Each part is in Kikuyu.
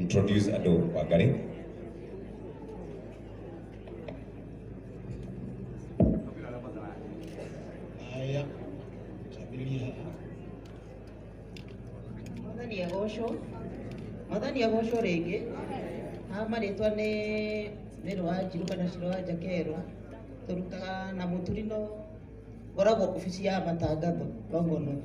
introduce andũ Wangari. Haya, tambĩrĩria haha. Mwathani agocwo mwathani agocwo rĩngĩ haha marĩtwa nĩ mĩrũ wa njirũ kana cirũ wa njakerũ tũrutaga na mũturi no ngoragwo obici ya matangatho Longonot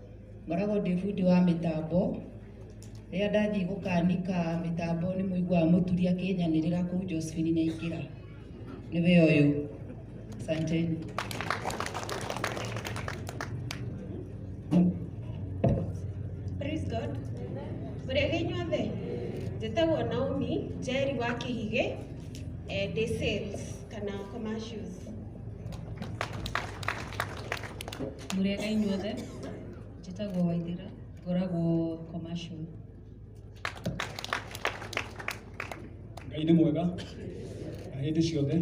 Ngoragwo ndĩ bundi wa mĩtambo, rĩrĩa ndathiĩ gũkanĩka mĩtambo nĩ mũiguaga mũturi akĩnyanĩrĩra kũu Josephine Nyaingĩra, nĩwe ũyũ. Asanteni. Praise God. Mũrĩega inyuothe? Njĩtagwo Naomi Njeri wa Kĩhigĩ, eh, ndĩ sales kana commercials. Mũrĩega inyuothe, njĩtagwo Waithĩra, ngoragwo commercial. Ngai nĩ mwega na hĩndĩ ciothe.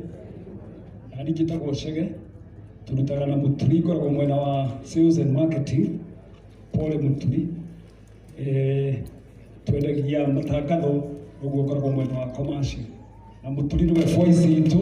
Na niĩ njĩtagwo Chege, tũrutaga na Mũturi, ngoragwo mwena wa sales and marketing, Pole Mũturi. Eh, twendagia matangatho, ũguo ngoragwo mwena wa commercial. Na Mũturi nĩwe voice itũ,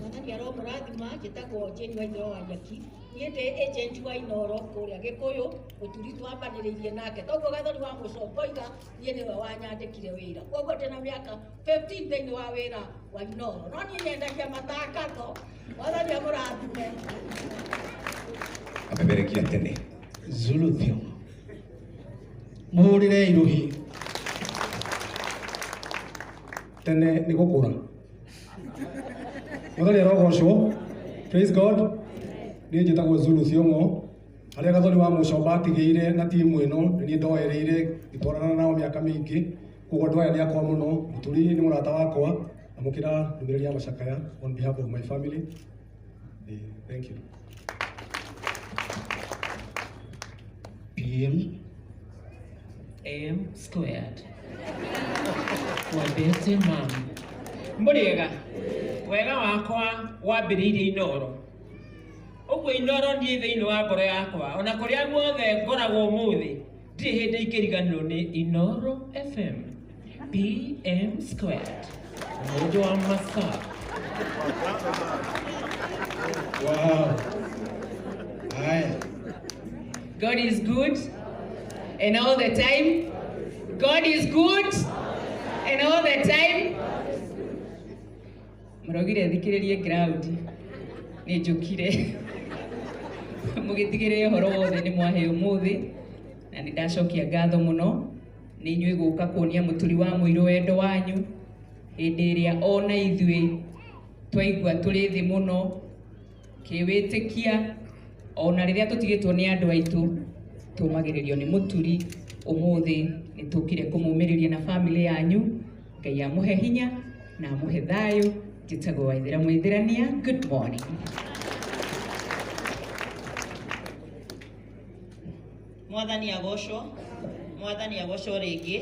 Mwathani aromũrathima njĩtagwo Jane Wainũra wa Nyaki niĩ ndĩ agent wa Inooro kũrĩa Gĩkũyũ ũturi twambanĩrĩirie nake toguo gathoni wa mũcongoiga niĩ nĩwe wanyandĩkire wĩra koguo ndĩ na mĩaka 15 thĩinĩ wa wĩra wa Inooro no niĩ nyendagia matangatho mwathani amũrathime amemerekia tene Zulu Theum. mũhũrĩrei rũhĩ tene nĩ gũkũra mũthoni arogocwo praise god niĩ njĩtagwo zulu thiongo harĩa gathoni wa mũcomba atigĩire na timu ĩno nĩ niĩ ndoereire ngĩtwarana nao mĩaka mĩingĩ koguo andũ aya nĩ akwa mũno mũturi nĩ mũrata wakwa amũkĩra ndũmĩrĩri ya macakaya on behalf of my family Thank you. Bill AM squared. Wabese mam. Muriega. Wega wakwa wambiriire inoro. Ũguo inoro niĩ thĩinĩ wa ngoro yakwa, ona kũrĩa guothe ngoragwo ũmũthĩ. Ndirĩ hĩndĩ ingĩriganĩrwo nĩ Inoro FM PM Squared mũndũ wa masaa Wow. Haya. God is good and all the time God is good and all the time Mũraugire thikĩrĩrie ground. Nĩ njũkire. Mũgĩtigĩrĩre ũhoro wothe nĩ mwahe ũmũthĩ na nĩ ndacokia ngatho mũno nĩ inyuĩ gũka kuonia mũturi wa mũirũ wendo wanyu hĩndĩ ĩrĩa ona ithuĩ twaigua tũrĩ thĩ mũno kĩwĩtĩkia ona rĩrĩa tũtigĩtwo nĩ andũ aitũ tũmagĩrĩrio nĩ mũturi ũmũthĩ nĩ tũkire kũmũmĩrĩria na bamĩrĩ yanyu ngai amũhe hinya na amũhe thayũ njĩtagwo waithĩra mwĩthĩrania good morning mwathani agocwo mwathani agocwo rĩngĩ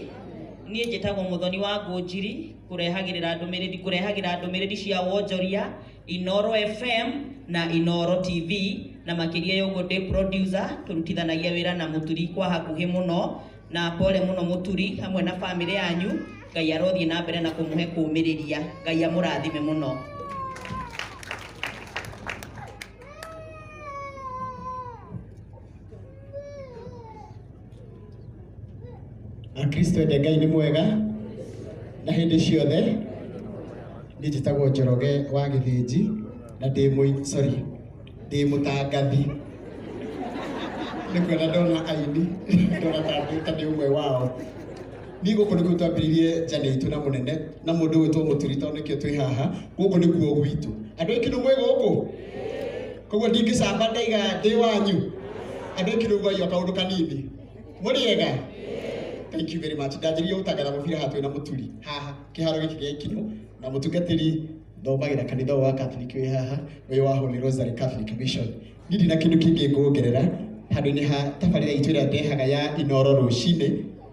niĩ njĩtagwo mũthoni wa ngũnjiri kũrehagĩrĩra ndũmĩrĩri kũrehagĩra ndũmĩrĩri cia wonjoria Inoro FM na Inoro TV na makĩria ya ũguo ndĩ producer tũrutithanagia wĩra na mũturi kwa hakuhĩ mũno na pole mũno mũturi hamwe na famĩlĩ yanyu ngai arothiĩ na mbere na kũmũhe kũmĩrĩria ngai amũrathime mũno Akristo ende Ngai nĩ mwega na hĩndĩ ciothe. Niĩ njĩtagwo Njoroge wa Gĩthĩnji na ndĩ mũi sorry ndĩ mũtangathi. Nĩ kuona ndona aini ndona ta ndĩ ta ndĩ ũmwe wao. Niĩ gũkũ nĩkuo twambĩrĩirie njane itũ na mũnene na mũndũ ũgwĩtwo Mũturi tondũ nĩkĩo twĩ haha. Gũkũ nĩkuo gwitũ. Andũ a Ikindu mwĩ gũkũ? koguo ndingĩcamba ndaiga ndĩ wanyu andå ä kirå gwaio kaå ndå kanini må rä ega thank you very much ndanjĩrire gũtangatha mũbira haha twĩ na mũturi haha kĩharo gĩkĩ gĩa ikinũ na mũtungatĩri thomagĩra kanitha ũyũ wa Catholic wĩ haha wĩ wa Holy Rosary Catholic Mission niĩ ndina kĩndũ kĩngĩ ngũongerera handũ-inĩ ha tabarĩra itũ ĩrĩa ndehaga ya inoro rũcinĩ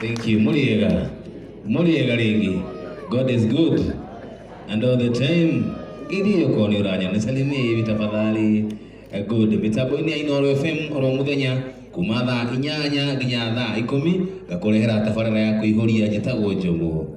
Thank you. Muriega. Muriega ringi. God is good. And all the time. Gidi yuko ni uranya. Nisalimie hivi tafadhali. Eh, Good. Mitambo ini ya Inoro FM oro muthenya kuma thaa inyanya nginya thaa ikumi ngakurehera tabarĩra ya kũihũria njĩtagwo njogu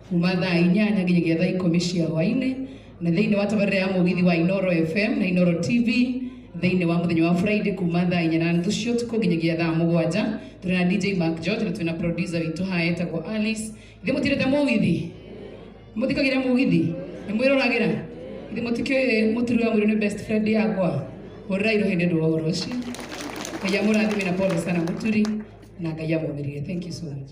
kuma thaa inyanya nginyagia thaa ikũmi cia hwainĩ na thĩinĩ wa tabarĩra ya mũgithi wa Inoro FM na Inoro TV thĩinĩ wa mũthenya wa Friday kuma thaa inya na nuthu cia ũtukũ nginyagia thaa mũgwanja tũrĩ na DJ Mark George na twĩ na producer witũ haha etagwo Alice ithe mũtirĩte mũgithi mũthikagĩra mũgithi nĩ mwĩroragĩra ithe mũtikĩũĩ mũturi wa mwĩrĩ nĩ best friend yakwa hũrĩra irũhĩ nĩ ũndũ wa ũhoro ũcio ngai amũrathime na pole sana mũturi na ngai amũmĩrire thank you so much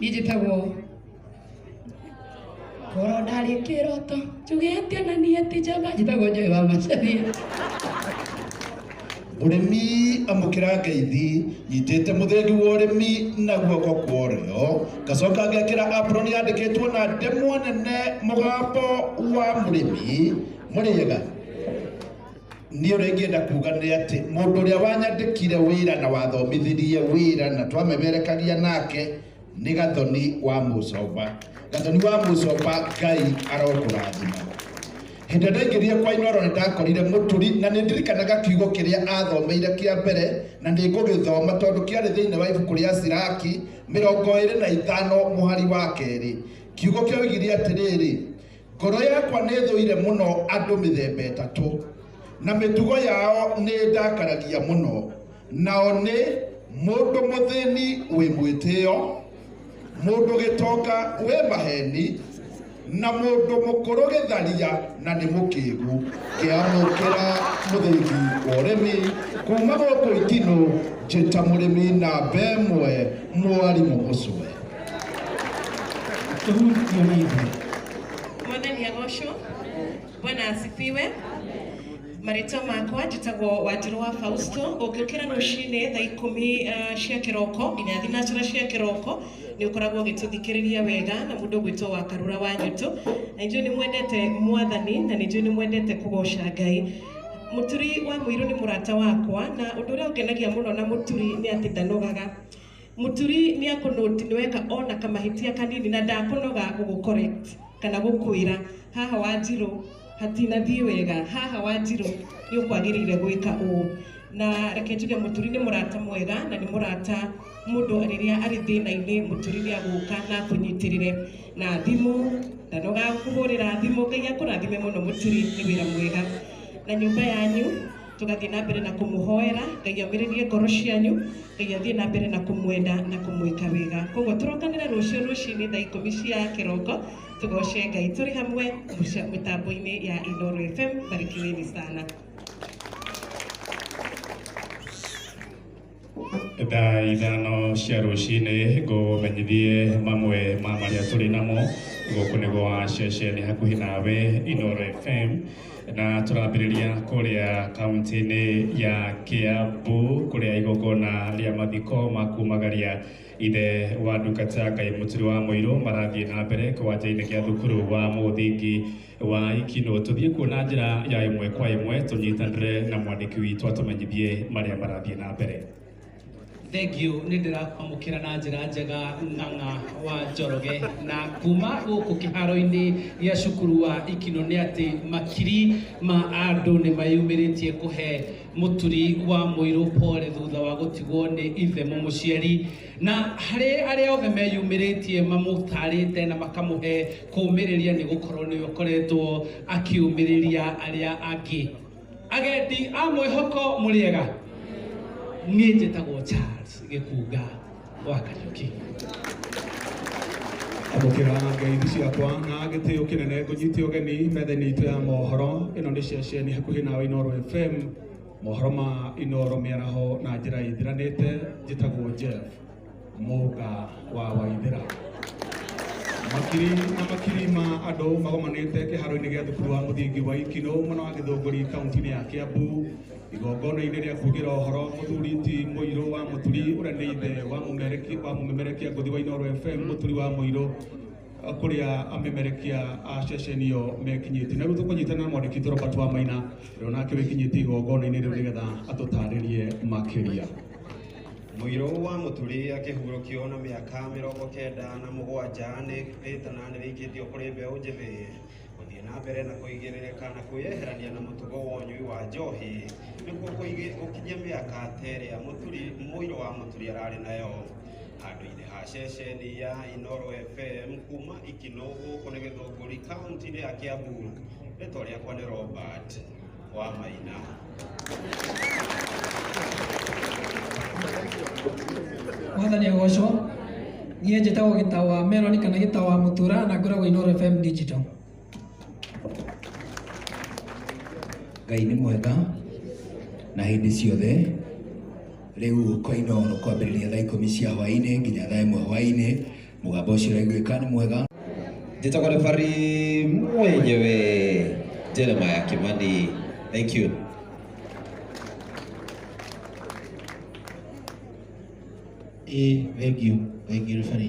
niĩ njĩtagwo ngoro ndarĩ kĩroto njugĩte na niĩ ti njamba njĩtagwo njoĩ wa macaria ũrĩmi amũkĩra ngeithi nyitĩte mũthĩndi wa ũrĩmi na guoko kwa ũrĩo ngacoka ngekĩra apron yandĩkĩtwo na ndemwa nene mũgambo wa mũrĩmi mũrĩega Niĩ ũrĩa ingĩenda kuuga nĩ atĩ mũndũ ũrĩa wanyandĩkire wĩra na wathomithirie wĩra na twamemerekagia nake nĩ Gathoni wa Mũcomba. Gathoni wa Mũcomba Ngai arokũrathima. Hĩndĩ ĩrĩa ndaingĩrire kwa Inoro nĩ ndakorire mũturi na nĩ ndirikanaga kiugo kĩrĩa athomeire kĩa mbere na nĩ ngũgĩthoma tondũ kĩarĩ thĩinĩ wa ibuku rĩa Siraki mĩrongo ĩrĩ na ithano mũhari wa kerĩ. Kiugo kĩoigire atĩrĩrĩ, Ngoro yakwa nĩ thũire mũno andũ mĩthemba ĩtatũ, na mĩtugo yao nĩ ndakaragia mũno. Nao nĩ mũndũ mũthĩni wĩ mwĩtĩo, mũndũ gĩtonga wĩ maheni, na mũndũ mũkũrũ gĩtharia na nĩ mũkĩgu. Ngĩamũkĩra mũthĩgi wa ũrĩmi kuma gũkũ Itinũ, njĩta mũrĩmi namba ĩmwe, mwarimũ Mũcũwe. Mwathani agocwo. Bwana asifiwe. Marĩtwa makwa njĩtagwo Wanjirũ wa Fausto. Ũngĩũkĩra rũcinĩ thaa ikũmi eh, cia kĩroko nginya thinacara cia kĩroko nĩ ũkoragwo ũgĩtũthikĩrĩria wega na mũndũ ũgwĩtwo wa Karura wa Nyũtũ. Na nĩnjũĩ nĩ mwendete Mwathani na nĩnjũĩ nĩ mwendete kũgoca Ngai. Mũturi wa mũirũ nĩ mũrata wakwa na ũndũ ũrĩa ũngenagia mũno na mũturi nĩ atĩ ndanogaga. Mũturi nĩakũnũti nĩweka ona kamahĩtia kanini na ndakũnoga gũgũ correct kana gũkwĩra haha Wanjirũ hatinathiĩ wega, haha Wanjirũ nĩũkwagĩrĩire gwĩka ũũ. Na reke njuge mũturi nĩ mũrata mwega na nĩ mũrata mũndũ rĩrĩa arĩ thĩna-inĩ mũturi nĩagũka na akũnyitĩrĩre na thimũ, ndanoga gũkũhũrĩra thimũ. Ngai akũrathime mũno mũturi nĩ wĩra mwega na nyũmba yanyu. tũgathiĩ na mbere na kũmũhoera ngai amĩrĩrie ngoro cianyu ngai athiĩ na mbere na kũmwenda na kũmwĩka wega koguo tũrokanĩre rũciũ rũcinĩ thaa ikũmi cia kĩroko tũgoce ngai tũrĩ hamwe mũca- mĩtambo-inĩ ya inoro fm barikiweni sana thaa ithano cia rũcinĩ ngũmenyithie mamwe ma marĩa tũrĩ namo gũkũ nĩ gwa ceceni hakuhĩ nawe Inoro FM na tũrambĩrĩria kũrĩa kaunti-inĩ ya Kiambu kũrĩa igongona rĩa mathiko ma kumagaria ithe wa ndungata Ngai Mũturi wa Mũirũ marathiĩ na mbere kĩwanja-inĩ gĩa thukuru wa mũthingi wa ikino tũthiĩ kuo na njĩra ya ĩmwe kwa ĩmwe tũnyitanĩre na mwandĩki witũ atũmenyithie marĩa marathiĩ na mbere thengio nä ndä rakwamå na njä ra njega ng'ang'a wa njoroge na kuma gå kå kä haro-inä gä a cukuru wa ikino nä atä makiri ma andå nä mayumä rä tie kå he må turi wa må irå pole thutha wa gå tigwo nä ithe må må ciari Na harĩ arĩa othe meyumĩrĩtie mamũtaarĩte na makamũhe kũũmĩrĩria nĩ gũkorwo nĩwe ũkoretwo akĩũmĩrĩria arĩa angĩ. Agendi a mwĩhoko mũrĩega? Niĩ njĩtagwo Charles Gĩkunga wa Kariũki. Amũkĩra ngeithi ciakwa na gĩtĩo kĩnene ngũnyite ũgeni metha-inĩ itũ ya mohoro. Ĩno nĩ ceceni hakuhĩ nawe Inooro FM. Mohoro ma Inooro Mĩaraho na njĩra ĩthiranĩte njĩtagwo Jeff Mũga wa Waithĩra. Makiri na makiri ma andũ magomanĩte kĩharo-inĩ gĩa thukuru wa mũthingi wa Ikinũ mwena wa Gĩthũngũri kaunti-inĩ ya Kiambu igongona-inĩ rĩa kuugĩra ũhoro mũthuri ti mũirũ wa mũturi ũrĩa nĩ ithe wa mũmerekia ngũthi wa Inooro FM mũturi wa mũirũ kũrĩa amemerekia a ceceni ĩyo mekinyĩtie. Na rĩu tũkũnyitana na mwandĩki witũ Robert Wamaina ũrĩa onake wĩkinyĩtie igongona-inĩ rĩu nĩgetha atũtarĩrie makĩria. Mũirũ wa mũturi akĩhurũkio na mĩaka mĩrongo kenda na mũgwanja nĩ rĩtana nĩ rĩikĩtio kũrĩ mbeũ njĩthĩ gũthiĩ na mbere na kũigĩrĩrĩka na kwĩyeherania na mũtugo wa ũnyui wa njohi nĩguo kũigi- gũkinyia mĩaka ta ĩrĩa mũturi mũirũ wa mũturi ararĩ nayo. handũ-inĩ ha ceceni ya Inoro FM kuma Ikinũ gũkũ nĩ Gĩthũngũri kaunti-inĩ ya Kiambu. Rĩtwa rĩakwa nĩ Robert wa Maina. mwathani agocwo niĩ njĩtagwo gĩtawa meloni kana gĩtawa mũtura na ngoragwo inoro fm digital ngai nĩ mwega na hĩndĩ ciothe rĩu koino no kwambĩrĩria thaa ikũmi cia hwaĩ-inĩ nginya thaa ĩmwe hwaĩ-inĩ mũgambo ũcio ũraiguĩka nĩ mwega njĩtagwo rebarĩ mwenyewe jeremaya kimani thank you ĩ thengiũ thengiũ rebarĩ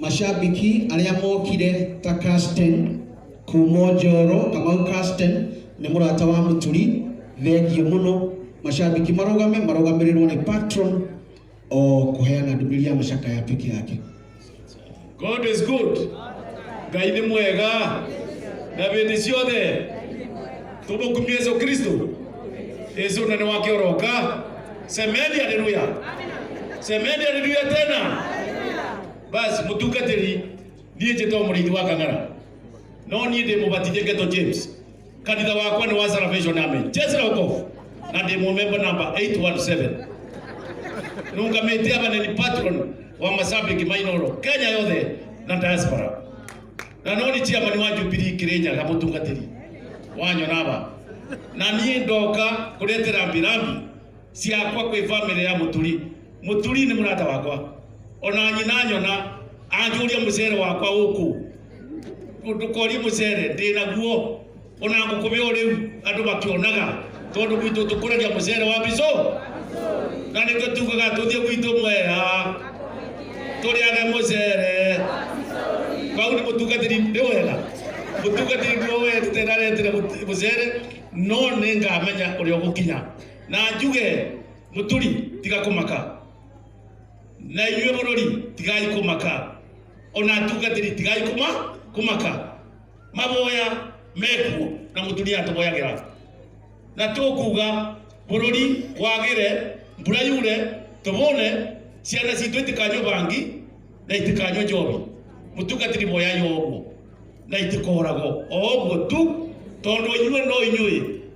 Macambĩki arĩa mokire ta Carsten kuuma Njoro, Kamau Carsten nĩ mũrata wa Mũturi, thengiũ mũno. Macambĩki marũgame, marũgamĩrĩrwo nĩ patron o kũheana ndũmĩrĩri ya macakaya peke yake. God is good. Ngai nĩ mwega. Na hĩndĩ ciothe. Tũmũkumie Yesu Kristo. Yesu nene wake oroka. Semeni haleluya. Semeni haleluya tena. Basi mutungatĩri niĩ njĩtwo mũrĩithi wa kang'ara no niĩ ndĩ mũbatithie ngeto James kanitha wakwa nĩ wa Salvation Army Jesu Rokofu na ndĩ mũmemba namba 817 nungamĩte aba nĩ patron wa mashabiki mainoro Kenya yothe na diaspora na no ni chairman wa Jubilee Kenya na mutungatiri wanyo naba na nie ndoka kulete rambi rambi ciakwa kwĩ family ya muturi muturi ni murata wakwa ona nyina nyona anjuria mucere wakwa uku ndukorie mucere ndina guo ona ngũkũmĩa o rĩu andũ makĩonaga tondũ gwitũ tũkũragia mũcere wa mbico na nĩkĩo tugaga tũthiĩ gwitũ mwea tũrĩage mũcere vau nĩ mũtungatĩri nĩ wega mũtungatĩri nĩ wetete na aretire mũtu- mũcere no nĩ ngamenya ũrĩa ũgũkinya na njuge mũturi tiga kũmaka na inyuĩ bũrũri tigai kũmaka ona atungatĩri tigai kuma kũmaka maboya mekuo na mutumia atoboyagira na tukuga bururi wagire mbura yure tubone ciana citũ itikanywe bangi na itikanywe njobi mutungatiri moya yoguo na itikorago o ũguo tu tondũ inyuĩ no inyuĩ